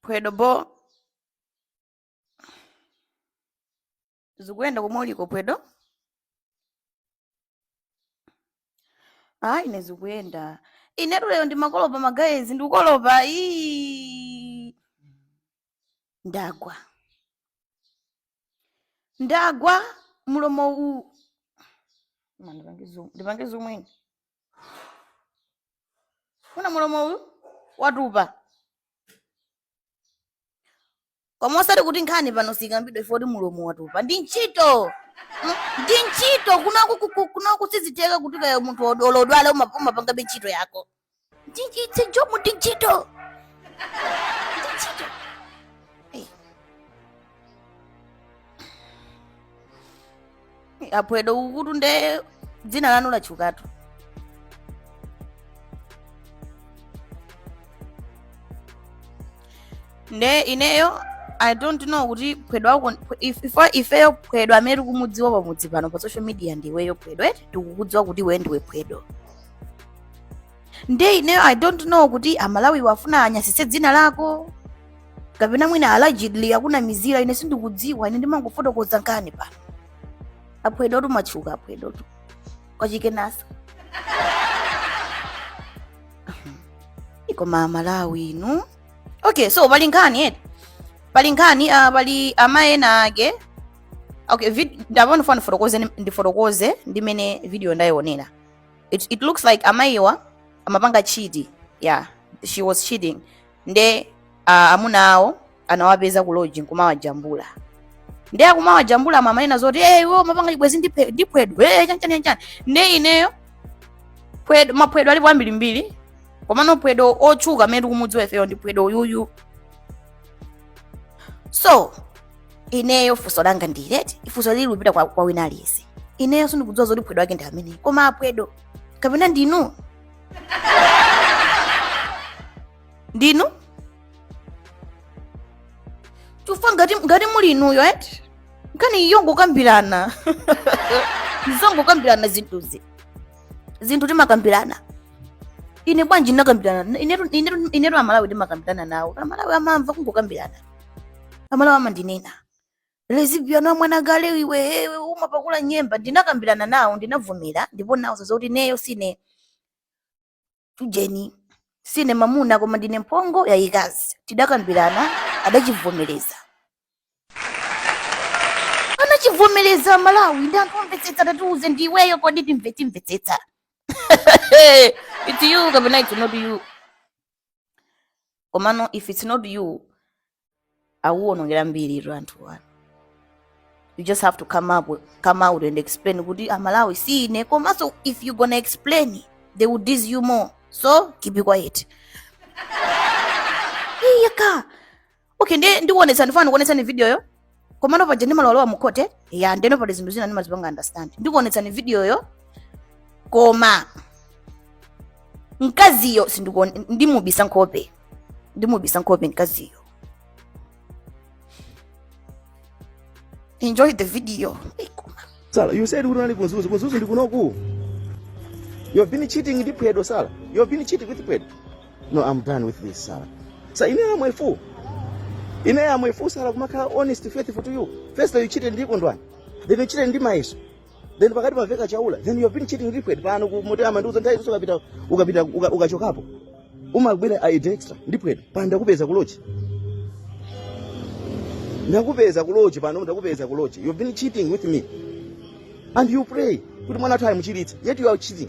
phwedo bo zikuyenda komwe uliko phwedo ayi ine zikuyenda inetu lero ndimakolopa magayezi ndikukolopa ii ndagwa ndagwa mulomowu Koma ndipange zoom- ndipange zomwene kuna mulomowu watupa koma osati kuti nkhani pano sikambidwa ivo kuti mulomo watupa ndi ntchito Mm, ndi ntchito kunoku ku- ku- kunoku sizitheka kuti kaya munthu od- olodwala uma- umapangabe ntchito yako ndi nchi- it's a job ndi ntchito aphwedo kukutu nde dzina lanu latchukatu nde ineyo i don't know kuti phwedo wako if- if- ifeyo phwedo amene tikumudziwa pamudzi pano pa social media ndiweyo phwedo eti tikukudziwa kuti iwe ndiwe phwedo nde ineyo i don't know kuti amalawiwo afuna anyasitse dzina lako kapena mwina allegedly akunamizira ine sindikudziwa ine ndimangofotokoza nkhani pano aphwedotu matchuka aphwedotu kwachikenasa koma amalawi inu okay so pali nkhani eti pali nkhani uh, pali amayi ena ake okay vid- ndapano funa ndifotokoze ndifotokoze mmene video ndayionera it, it looks like amayiwa amapanga cheat yeah she was cheating nde uh, amuna awo anawapeza ku lodge nkumawajambula nde akumawajambula amanena zoti hey, iwo mapanga chibwezi ndi phe- ndi phwedo hey, chanchani chanchani nde ineyo phwedo- maphwedo alipo ambirimbiri komano phwedo otchuka amene tikumudziwa ifeyo ndi phwedo uyuyu so ineyo funso langa ndi loti ifunso lili kupita kwa, kwa wina aliyense ineyo sindikudziwa zoti phwedo wake ndi ameneyu koma aphwedo kapena ndinu ndinu chifukwa ngati, ngati muli inuyo eti nkhani iyo ngokambirana zongokambirana zinthuzi zinthu timakambirana ine bwanji ndinakambirana inetu inetu- inetu amalawi timakambirana nawo amalawi amamva kungokambirana amalawi amandinena lesbian wa mwana gale iwe iwe umapakula nyemba ndinakambirana nawo ndinavomera ndipo nawauza zoti ineyo sine ujeni sine mamuna koma ndine mphongo yayikazi tidakambirana adachivomereza anachivomereza amalawi ndi anthu omvetsetsa tatiuze ndi iweyo kodi timve timvetsetsa it's you kapena it's not you komano if it's not you akuwonongera mbiri ito anthu wanu you just have to come up come out and explain kuti amalawi si ine komanso if you gonna explain they will diss you more so keep it quiet iyaka okay ndi ndikuonetsa ndifuna ndikuonetsani videoyo komano paja ndimalowalowa mukhoti ya ndeno pali zinthu zina ndimazipanga understand ndikuonetsani videoyo koma mkaziyo sindikuone- ndimubisa nkhope ndimubisa nkhope mkaziyo enjoy the video Sara you said unali ku Mzuzu ku Mzuzu ndi kunoku you've been cheating ndi Phwedo Sara you've been cheating with phwedo no i'm done with this Sara so ine am a fool ine am a fool Sara kumakhala honest faithful to you first you cheated ndi kondwani then you cheated ndi mayeso then pakati paveka chaula then you have been cheating ndi Phwedo pano ku motel amandiuza nthawi zonse ukapita ukapita uka- ukachokapo umabwera aid extra ndi Phwedo pano ndakupeza kuloji ndakupeza kuloji pano ndakupeza kuloji you have been cheating with me and you pray kuti mwana wathu amuchiritse yet you are cheating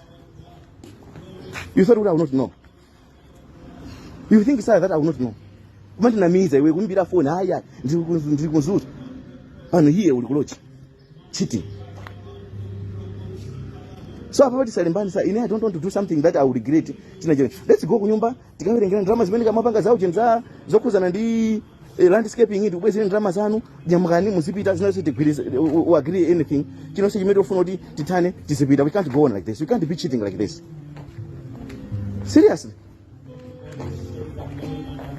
You thought I would not know. You think sir that I would not know. Koma ndinamiza iwe kumbira phone haya ndiri ku- ndiri kunzuta. Pano hiye uli kulochi. Cheating. So apa pati salimbani sir, ine I don't want to do something that I will regret. China china. Let's go kunyumba tikawerengere ndalama zimene umapanga za ochenza zokhudzana ndi eh, landscaping ndikubwezere ndalama zanu nyamukani muzipita zinonse tigwirize u- u- agree anything chinonse chimene ufuna kuti tithane tizipita we can't go on like this we can't be cheating like this seriously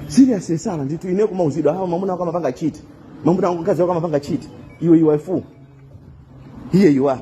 seriously Sara ndithu ine kumauzidwa hawa mamuna wako amapanga chiti mamuna wako mkazi wako amapanga chiti iwe you are a fool here you are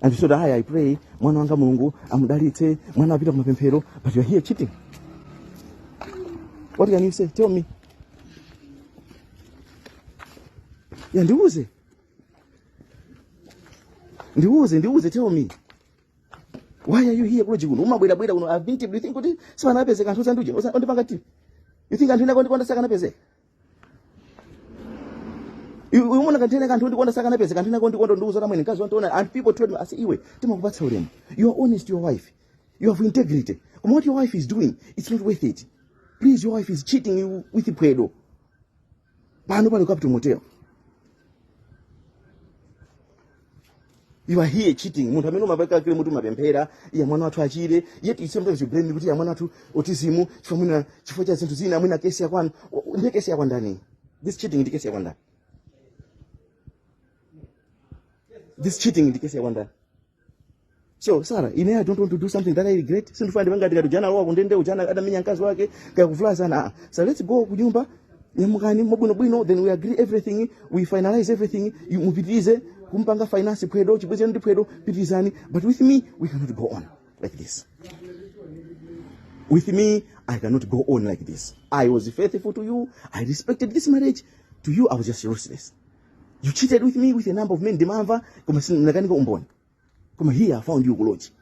And you said, I, I pray, mwana wanga mulungu amudalitse, mwana wapita kumapemphero, but you're here cheating. What can you say? Tell me. Yeah, ndiuze. Ndiuze, ndiuze, tell me. Why are you here kuloji kuno? Umabwera bwera kuno. I've been to, do you think kuti sipanapezeka anthu ondifuna? Ondipanga ti. You think anthu ina kondikonda sakanapezeka? Iwe- Umaona ngati ine anthu ondikonda sakanapezeka anthu ondikonda kundiuza tamwene nkazi wantu ona and people told me ase iwe timakupatsa ulemu. You are honest to your wife. You have integrity. Koma what your wife is doing, it's not worth it. Please your wife is cheating you with pwedo. Pano pali Capital Motel. you are here cheating munthu amene umapanga claim kuti umapemphera eya mwana wathu achire yet you sometimes you blame me kuti eya mwana wathu autism chifukwa mwina chifukwa cha zinthu zina mwina kesi yakwanu ndiye kesi yakwa ndani this cheating ndi kesi yakwa ndani this cheating ndi kesi yakwa ndani So Sarah, ine I don't want to do something that I regret. Sindifuna ndipanga tikati jana lowa kundende ujana adamenya mkazi wake kaya kuvula sana. Ah, So let's go kunyumba nyamukani mabwino bwino then we agree everything we finalize everything you mupitirize kumpanga finance phwedo chibweze ndi phwedo pitirizani but with me we cannot go on like this. With me I cannot go on like this. I was faithful to you. I respected this marriage. To you I was just useless. You cheated with me with a number of men ndimamva koma sindinakanika umboni. koma here i found you kuloji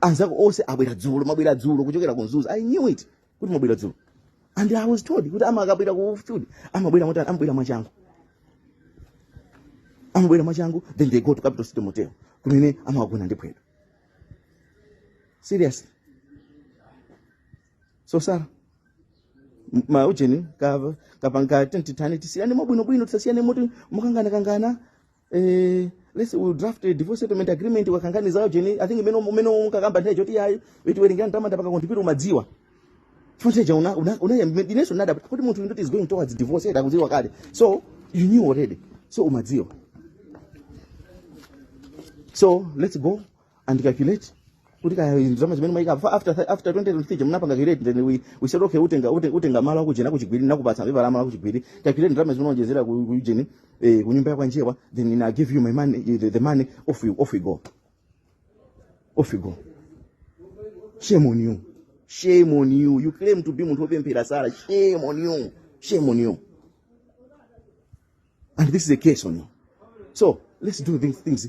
anzako onse abwera dzulo mabwera dzulo kuchokera ku mzuzu i knew it kuti mabwera dzulo and i was told kuti amati akabwera ku field amabwera motani amabwera mwachangu amabwera mwachangu then they go to capital city motel kumene amagona ndi Phwedo seriously so sara m- ma ujeni kaya tipanga tentitani tisiyane mwabwinobwino tisasiyane moti mukanganakangana eh, let's draft a divorce settlement agreement ukakangani za ujeni i think mmene mmene ukakamba nthawi yoti ayi tiwerengera ndalama ndapanga contribute umadziwa chonsecha una una una ineso n'nadziwa kuti munthu ndoti is going towards divorce unkadziwa kale so you knew already so umadziwa so let's go and calculate kuti kaya ndalama zimene mwaika fa- after th- after 2023 munapanga calculate then we we said okay utenga ute- utenga malo akujeni kuchigwiri nakupatsa pepa la malo akuchigwiri calculate ndalama zimene onjezera ku ku ujeni eh ku nyumba yakwa njewa then I give you my money eh, the, the money off you off you go off you go shame on you shame on you you claim to be munthu opemphera Sarah shame on you shame on you and this is a curse on you so let's do these things